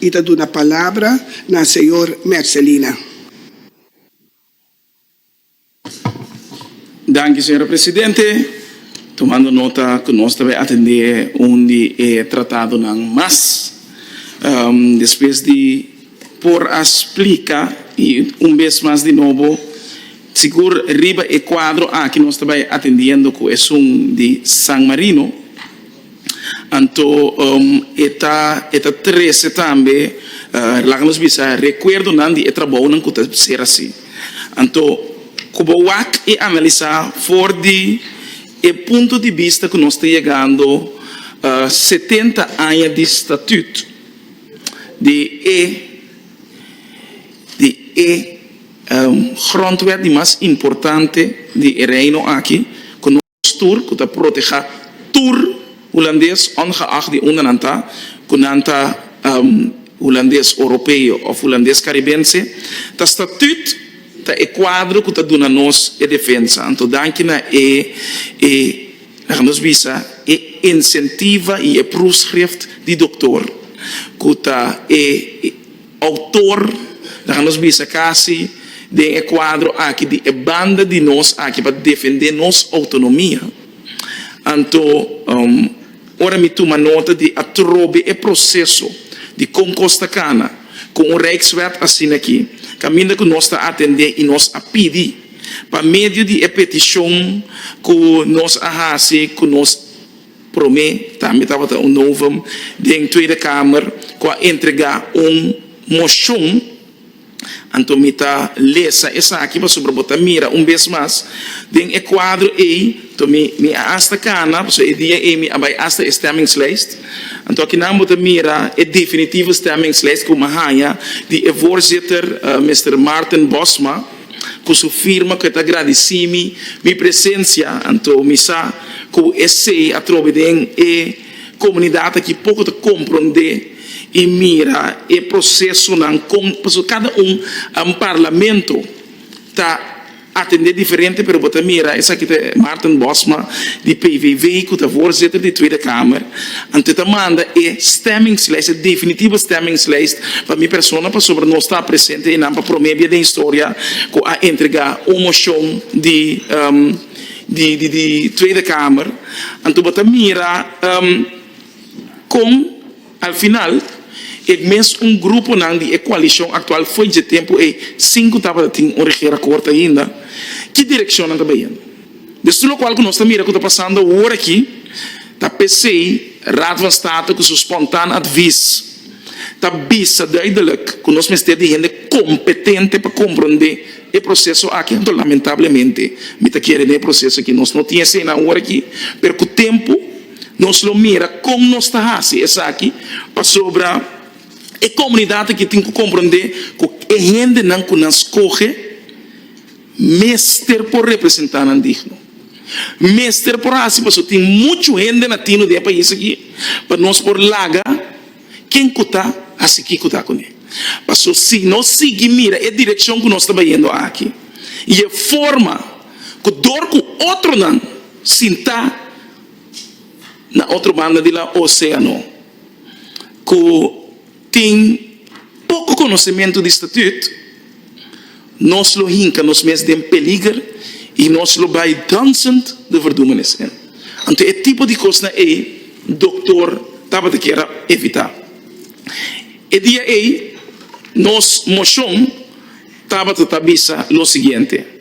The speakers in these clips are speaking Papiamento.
I ta duna palabra na señor Mercelina. Danki señora presidente. Tumando nota cu nos ta bay atende un di e tratadonan mas despues di por a splica y un bes mas di nobo sigur riba e cuadro aki nos ta bay atendiendo cu esun di San Marino. Anto e ta e ta trese tambe. Laga nos bisa rekuerdonan di e trabounan ku ta ser asi. Anto ku bo wak i analisá for di e punto di bista ku nos ta yegando setenta aña di statüt di e di e grondwet di mas importante di e Reino aki, Postur ku ta protehá tur hulandes ongeag di unda nan ta, ku nan ta hulandes oropeo òf hulandes karibense, ta statüt, ta e kuadro ku ta duna nos e defensa. Anto danki na e e laga nos bisa e insentiva i e proefschrift di doktor ku ta e. Autor, Laga nos bisa casi den e cuadro aki di e banda di nos aki pa defende nos autonomia. Anto, ora mi tuma nota di atrobe e proceso di con cos ta cana cu un Rijkswet asina aki, caminda cu nos ta atende y nos a pidi pa medio di e peticion cu nos a haci cu nos Prome tambe tabata un novum den Tweede Kamer ku a entrega un moshon. Anto mi ta lesa esaki pasobra bo ta mira un bes mas den e kuadro ei. Anto mi mi a asta kana pasobra e dia ei mi a bai asta e stemmingslijst. Anto akinan bo ta mira e definitivo stemmingslijst ku mi a haña di e Voorzitter, Mister Maarten Bosma. ku su firma ku e ta gradisí mi mi presensia, anto mi sa ku esei atrobe den e komunidat aki poko ta komprondé i mira e prosesonan kon pasobra kada un Parlamento ta atendé diferente pero bo ta mira esaki ta e Maarten Bosma di PVV ku ta voorzitter di Tweede Kamer. Anto ta manda e stemmingslijst, e definitivo stemmingslijst, pa mi persona pasobra nos ta presente einan pa prome bia den historia cu a entrega un mocion di di Tweede Kamer. Anto bo ta mira con al final e mes un gruponan di e coalicion actual fo'i dje tempo ei cinco tabata tin un regeerakkoord ainda, ki direccionnan ta bayendo? Despues lokual ku nos ta mira ku ta pasando awor aki ta p'esei Raad van State ku su spontaan advis ta bisa duidelek ku nos mester di hende kompetente pa komprondé e proseso aki. Anto lamentablemente mi ta kere den e proseso aki nos no tin eseinan awor aki pero ku tempu nos lo mira kon nos ta hasi esaki pasobra e komunidat aki tin ku komprondé ku e hendenan ku nan skohe Mester por representa nan digno. Mester por haci paso tin mucho hende latino den e pais aki pa nos por laga ken cu ta haci kico ta cune. Paso si no sigui mira e direccion cu nos ta bayendo aki y e forma cu dor cu otronan sinta na otro banda di la oceano cu. Tin poko konosementu di statüt, nos lo hinka nos mes den peliger i nos lo bai dònsend de verdúmenes. Anto e tipo di kosnan ei doktor tabata kier a evitá. E dia ei nos moshon tabata ta bisa lo siguiente.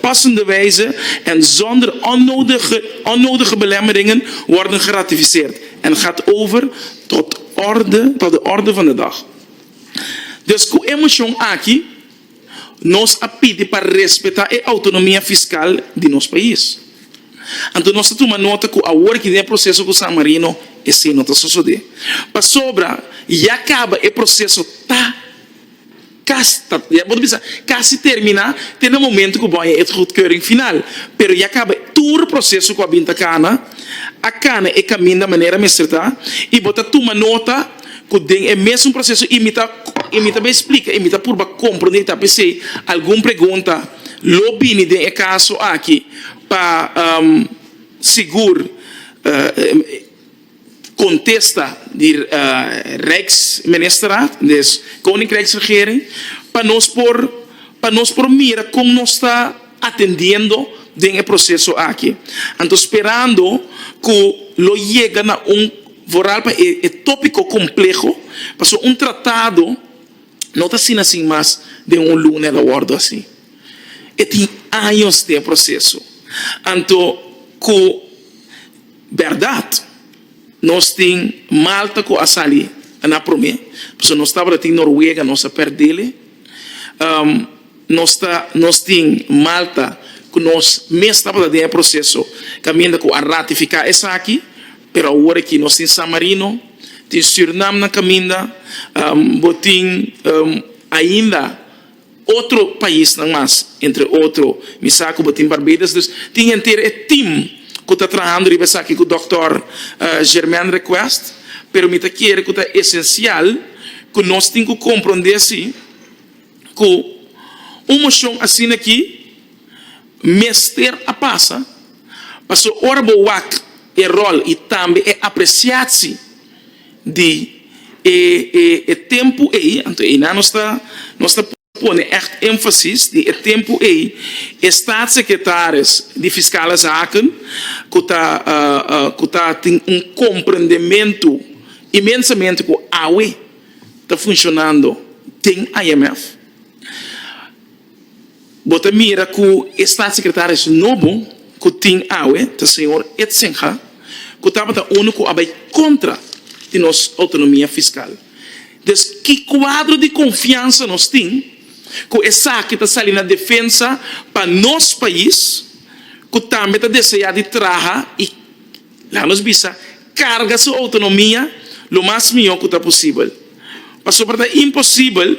passende wijze en zonder onnodige belemmeringen worden geratificeerd en gaat over tot de orde van de dag. Dus cu e motion aki nos a pidi pa respeta e autonomia fiscal di nos pais. Anto nos ta tuma nota cu awor aki den e proceso cu San Marino esey no ta sosode. Pasobra ya caba e proceso ta. Casta, bo ta bisa, casi termina, te na momento cu bo a het goedkeuring final, pero ya caba tur proceso cu a bin ta cana, a cana e caminda manera mester ta, y bo ta tuma nota cu den e mesun proceso y mi ta y mi ta bay splica y mi ta purba comprende y ta pesey algun pregunta lo bini den e caso aki pa sigur. Contesta di Rijksministerraad, des Koninkrijksregering, pa nos por pa nos por mira con nos ta atendiendo den e proceso aki. Anto sperando cu lo yega na un vooral pa e e topico compleho pasobra un tratado no ta asina sin mas den un lunes lo wordo asi. E tin años den e proceso anto cu. Berdad, nos tin Malta cu a sali na prome, pasobra nos tabata tin Noruega, nos a perdele. Nos ta, nos tin Malta cu nos mes tabata den e proceso caminda cu a ratifica esaki, pero awor aki nos tin San Marino, tin Surinam nan caminda, bo tin ainda. otro paisnan mas entre otro mi sa ku bo tin Barbados dus tin henter e team ku ta trahando riba esaki ku dòkter Germaine Request pero mi ta kere ku ta esensial ku nos tin ku komprondé si ku un moshon asina aki mester a pasa paso ora bo wak e ròl i tambe e apresiatsi di e e e tempu ei, anto einan nos ta nos ta pone ègt énfasis di e tempu ei, e Statssekretaris di Fiskale Zaken ku ta ku ta tin un komprendementu imensamente ku awe ta funshonando den IMF, Bo ta mira cu e Staatssecretaris nobo cu tin awe ta Señor Etzenga, cu tabata unu cu a bay contra di nos autonomia fiscal. Des ki cuadro di confiansa nos tin cu esaki ta sali na defensa pa nos pais cu tambe ta desea di traha y, laga nos bisa, carga su autonomia lo mas miho cu ta posibel? Pasobra ta imposibel.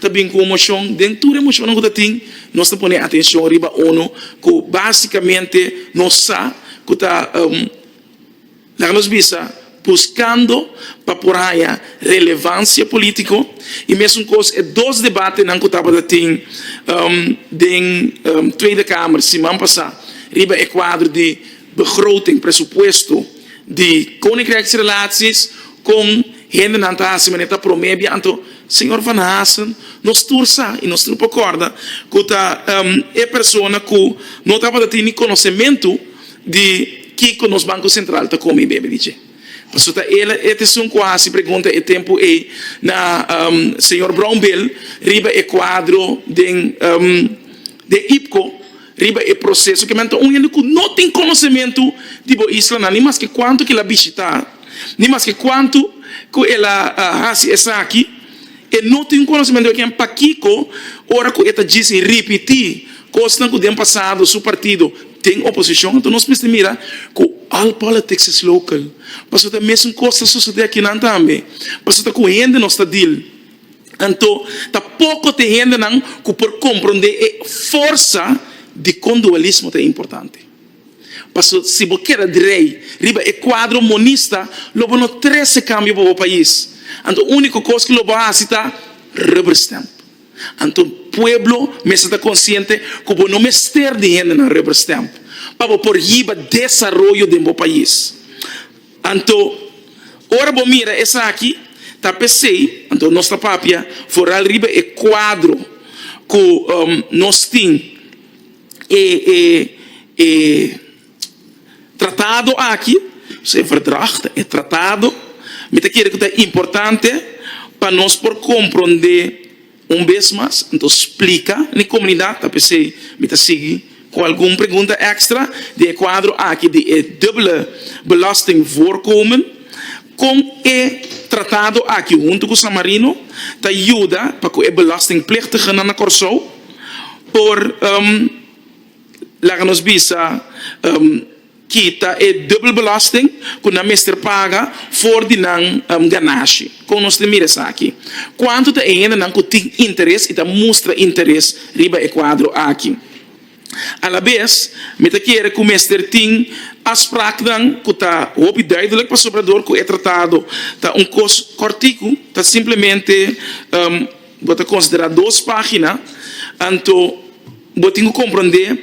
Ta bin ku un moshon. Den tur e moshonnan ku ta tin, nos ta pone atenshon riba unu ku básikamente nos sa ku ta, laga nos bisa, buskando pa por haña relevansia polítiko i mesun kos e dos debatenan ku tabata tin den Tweede Kamer siman pasá riba e kuadro di begroting, presupuesto, di Koninkrèksrelasies kon Hendenan ta hasi manera e ta promé bia, anto Señor Van Haasen nos tur sa i nos tur por kòrda ku ta e persona ku no tabata tin ni konosementu di kiko nos Banko Sentral ta kome i bebe di dje. Pasobra ta el e esun ku a hasi pregunta e tempu ei na Señor Brownbill riba e kuadro den den IPCO. Riba e proseso ke men ta un hende ku no tin konosementu di bo islanan, ni maske kuantu ku el a bishitá, ni maske kuantu ku el a hasi esaki, e no tin un konosementu ekn pakiko ora ku e ta djisi ripití kosnan ku den pasado su partido tin oposishon. Anto nos mester mira ku all politics is local, pasobra ta e mesun kos ta sosodé akinan tambe, pasobra ta ku hende nos ta deal. Anto, ta poko tin hendenan ku por komprondé e forsa di kon dualismo ta importante. Paso, si bo keda drei riba e kuadro monista, lo bo no trese kambio pa bo pais. Anto, úniko kos ku lo bo hasi ta rubber stamp. Anto, pueblo mester ta konsiente ku bo no mester di hendenan rubber stamp pa bo por hiba desaroyo den bo pais. Anto, ora bo mira esaki, ta p'esei, anto nos ta papia foral riba e kuadro ku nos tin e e tratado aki, dus e verdrag ta e tratado, mi ta kere ku ta importante pa nos por komprondé. Un bes mas, nto splika na e komunidat, ta p'esei mi ta sigui ku algun pregunta èkstra den e kuadro aki di e dubele belasting voorkomen, kon e tratado aki huntu ku San Marino ta yuda pa ku e belastingplichtigenan na Kòrsou por laga nos bisa. Kita e dubelbelasting ku nan mester paga for di nan ganashi. Kon nos tin mira esaki? Kuantu ta e hendenan ku tin interes i ta mustra interes riba e kuadro aki? Alabes, mi ta kere ku mester tin afspraknan ku ta hopi duidelik pasobra dor ku e tratado ta un kos kòrtiku, ta simplemente. Bo ta konsiderá dos página, anto bo tin ku komprondé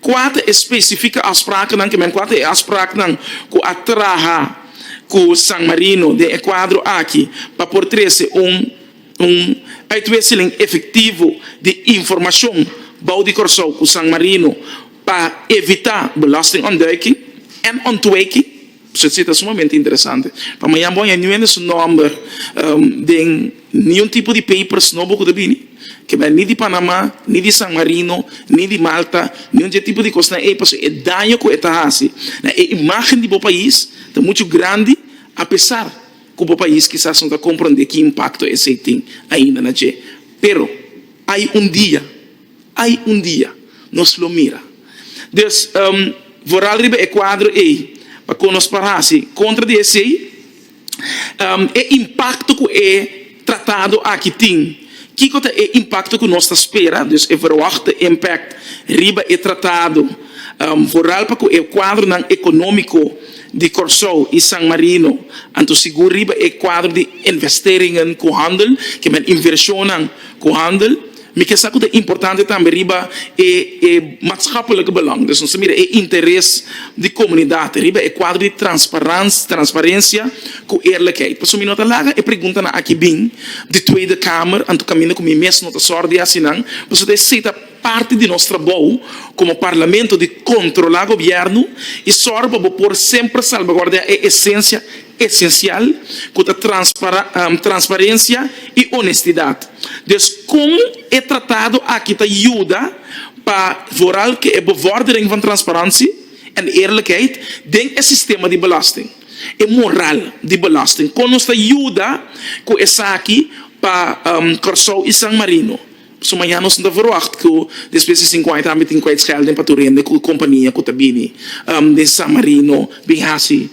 kua ta e spesifika afspraaknan ke men kua e afspraaknan ku a traha ku San Marino den e kuadro aki pa por trese un un uitwisseling efektivo di informashon bou di Kòrsou ku San Marino pa evitá belastingontduiking en ontwijking. Su cita ta sumamente interesante. Pa mañan bo a haya niun hende su nomber den niun tipo di papers nobo cu ta bini, ke bay ni di Panama, ni di San Marino, ni di Malta, niun dje tipo di cosnan ey, pasobra e daño cu e ta haci na e imagen di bo pais ta mucho grandi, apesar cu bo pais kisas no ta compronde ki impacto esey tin ainda na dje. Pero hay un dia. Ai un dia nos lo mira. Dus voral riba e kuadro ei pa kon nos por hasi kontra di esei. E impakto ku e tratado aki tin, kiko ta e impakto ku nos ta spera? Dus e verwachtte impakt riba e tratado voral pa ku e kuadronan ekonómiko di Kòrsou i San Marino anto sigur riba e kuadro di investeringen ku handel, ke men invershonnan ku handel. Mi ke sa ku ta importante tambe riba e e matschappelijke belang, dus nos ta mira e interes di komunidat riba e kuadro di transparans transparensia ku eerlijkheid. Pasobra mi no ta laga e preguntanan aki bin di Tweede Kamer, anto kaminda ku mi mes no ta sòrt di hasi nan, pasobra esei ta parti di nos trabou komo parlamento di kontrolá gobièrnu i sòru pa bo por semper salbaguardiá e esensia esensial ku ta transparensia i onestidat. Des kon e tratado aki ta yuda pa voral ku e bevordering van transparansi en eerlijkheid den e sistema di belasting? E moral di belasting kon nos ta yuda ku esaki pa Kòrsou i San Marino? So mañana nos no ta verwagt cu despues di cinco aña tambe tin kwijtschelding pa tur hende cu e compania cu ta bini den San Marino bin haci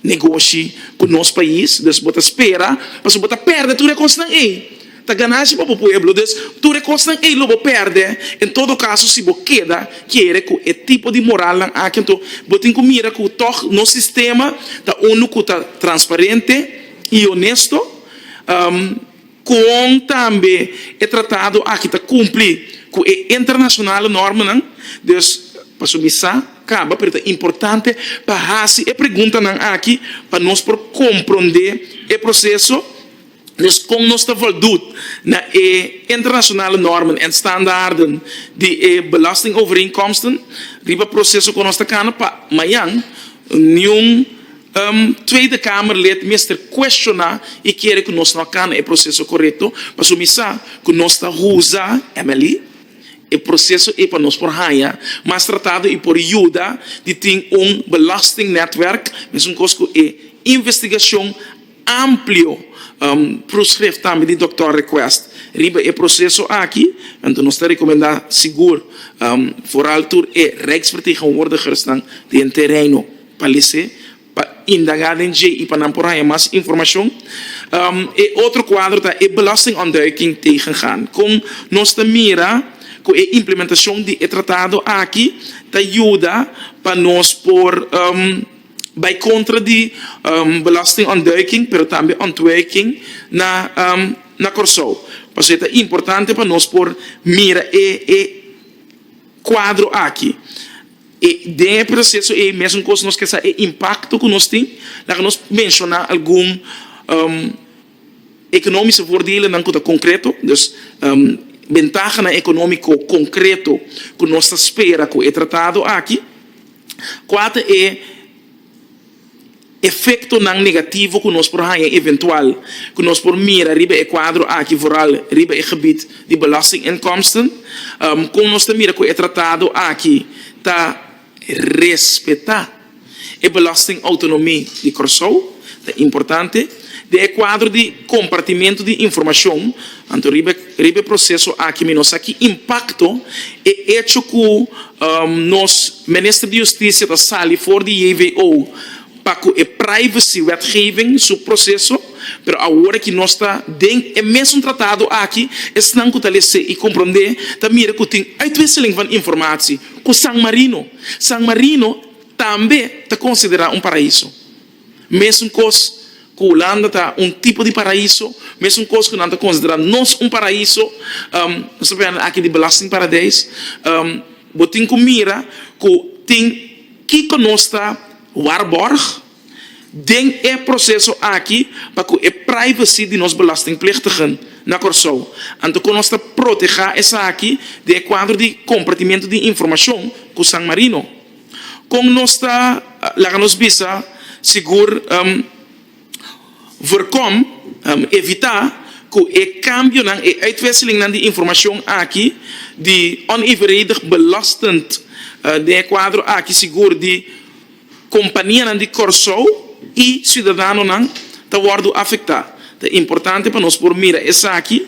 negoshi cu nos pais. Dus bo ta spera pasobra bo ta perde tur e cosnan ey. Ta ganancia pa bo pueblo. Dus tur e cosnan ey lo bo perde. En todo caso si bo keda kere cu e tipo di moralnan aki anto bo tin cu mira cu tog nos sistema ta unu cu ta transparente y honesto. Kon tambe e tratado aki ta kumpli ku e internashonal normanan. Dus, pasobra mi sa kaba pero ta importante pa hasi e preguntanan aki pa nos por komprondé e proseso. Dus kon nos ta voldut na e internashonal normen en standaarden di e belastingovereenkomsten riba proseso ku nos ta kana pa mañan niun. Un Tweede Kamerlid mester kuestioná i kere ku nos no a kana e proseso korekto, pasobra mi sa ku nos ta usa, Emily, e proseso ei pa nos por haña mas tratado i por yuda di tin un belastingnetwerk, mesun kos ku e investigashon amplio proeskrif tambe di dokter Request riba e proseso aki. Anto nos ta rekomendá sigur foral tur e Rijksvertegenwoordigersnan den terreino. Palece pa indaga den dje i pa nan por haña mas informacion. E otro cuadro ta e Belastingontduiking tegengaan. Con nos ta mira cu e implementacion di e tratado aki ta yuda pa nos por bay contra di belastingontduiking pero tambe ontwijking na Corsou. Pasobra ta importante pa nos por mira e cuadro aki. E den e proseso ei mesun kos nos ke sa e impakto ku nos tin, laga nos menshoná algun ekonomiske voordelennan ku ta konkreto, dus bentahanan ekonomiko konkreto ku nos ta spera ku e tratado aki. Kua ta e. Efectonan negativo cu nos por haya eventual cu nos por mira riba e cuadro aki vooral riba e gebied di belastinginkomsten, con nos ta mira cu e tratado aki ta respeta e belastingautonomie di Corsou, ta importante. Den e kuadro di kompartimentu di informashon, anto riba e proseso aki mi no sa ki impakto e echo ku nos Minister di Hustisia ta sali for di JVO pa ku e privacy wetgeving su proseso, pero awor ki nos ta den e mesun tratado aki, esnan ku ta lese i komprondé ta mira ku tin uitwisseling van informatie ku San Marino. San Marino tambe ta konsiderá un paraiso. Mesun kos ku Hulanda ta un tipo di paraíso, mesun kos ku nan ta konsiderá nos un paraíso, nos ta pende aki di belastingparadijs, bo tin ku mira ku tin kiko nos ta waarborg den e proseso aki pa ku e privacy di nos belastingplichtigen na Kòrsou, anto kon nos ta protegá esaki den e kuadro di kompartimentu di informashon ku San Marino. Kon nos ta laga nos bisa sigur voorkom, evitá, ku e kambionan, e uitwisselingnan di informashon aki di onevenredig belastend den e kuadro aki sigur di kompanianan di Kòrsou i siudadanonan ta wòrdu afektá? Ta importante pa nos por mira esaki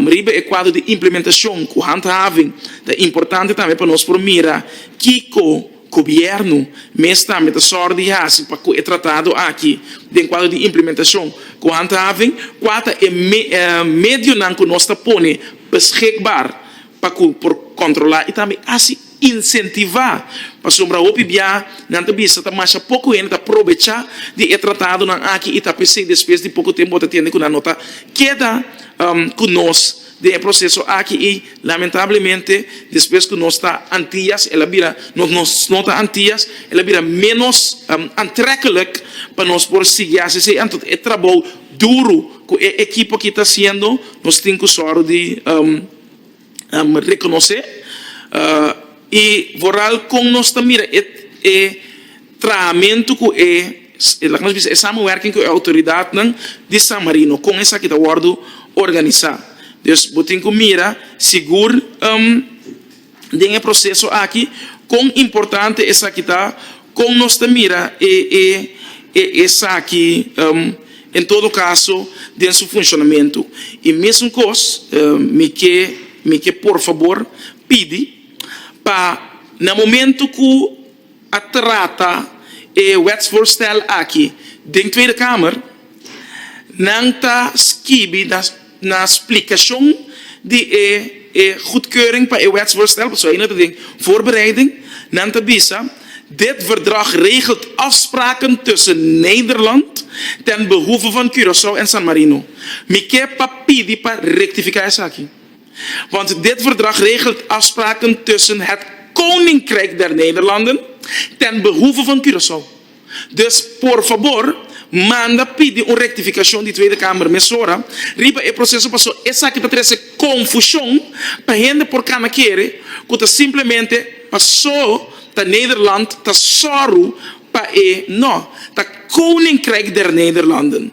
riba e kuadro di implementacion cu handhaving. Ta importante tambe pa nos por mira kico Gobierno mes tambe ta sor di haci pa cu e tratado aki den kuadro di implementacion cu handhaving. Cua ta e medionan cu nos ta pone beschikbaar pa ku por kontrolá i tambe hasi insentivá, pasobra hopi bia nan ta bisa ta masha poko hende ta probechá di e tratadonan aki i ta p'esei despues di poko tempu bo ta tende ku nan no ta keda ku nos den e proseso aki i lamentablemente despues ku nos ta antias el a bira nos nos no ta antias el a bira ménos antrekkelijk pa nos por sigui hasi esei anto e trabou duru ku e ekipo aki ta hasiendo nos tin ku sòru di. reconoce y vooral con nos ta mira e trahamentu cu e laga nos bisa e samenwerking cu e autoridad nan di San Marino con esaki ta wordo organisa, dus bo tin cu mira sigur. den e proseso aki, kon importante esaki ta, kon nos ta mira esaki en todo kaso den su funshonamentu. E mesun kos mi ke por fabor pidi pa na momentu ku. a trata e wetsvoorstel aki den Tweede Kamer, nan ta skibi na splikashon di e e goedkeuring pa e wetsvoorstel, pasobra aina ta den voorbereiding, nan ta bisa, Dit verdrag regelt afspraken tussen Nederland ten behoeve van Curaçao en San Marino. Mi ke pa pidi pa rectifica esaki. want dit verdrag regelt afspraken tussen het Koninkrijk der Nederlanden ten behoeve van Curaçao. Dus por fabor manda pidi un rectificacion di Tweede Kamer mesora riba e proceso paso esaki ta trece confusion pa hende por cana kere cu ta simplemente paso ta Nederland ta soru pa e no ta Koninkrijk der Nederlanden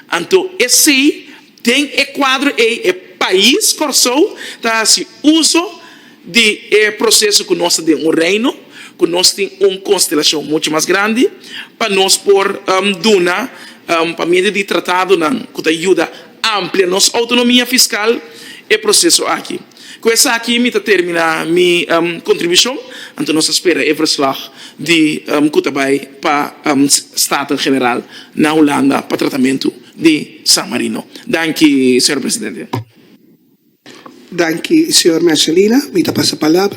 anto esey Den e kuadro ei e pais Kòrsou ta hasi uso di e proseso ku nos ta den un reino, ku nos tin un konstelashon muchu mas grandi, pa nos por duna pa medio di tratadonan ku ta yuda amplia nos outonomia fiskal e proseso aki. Ku esaki mi ta terminá mi kontribushon, anto nos ta spera e verslòg di ku ta bai pa Staten-General na Hulanda pa tratamentu. di San Marino. Danki, señor presidente. Danki, señor Mercedina. Mi ta pasa palabra.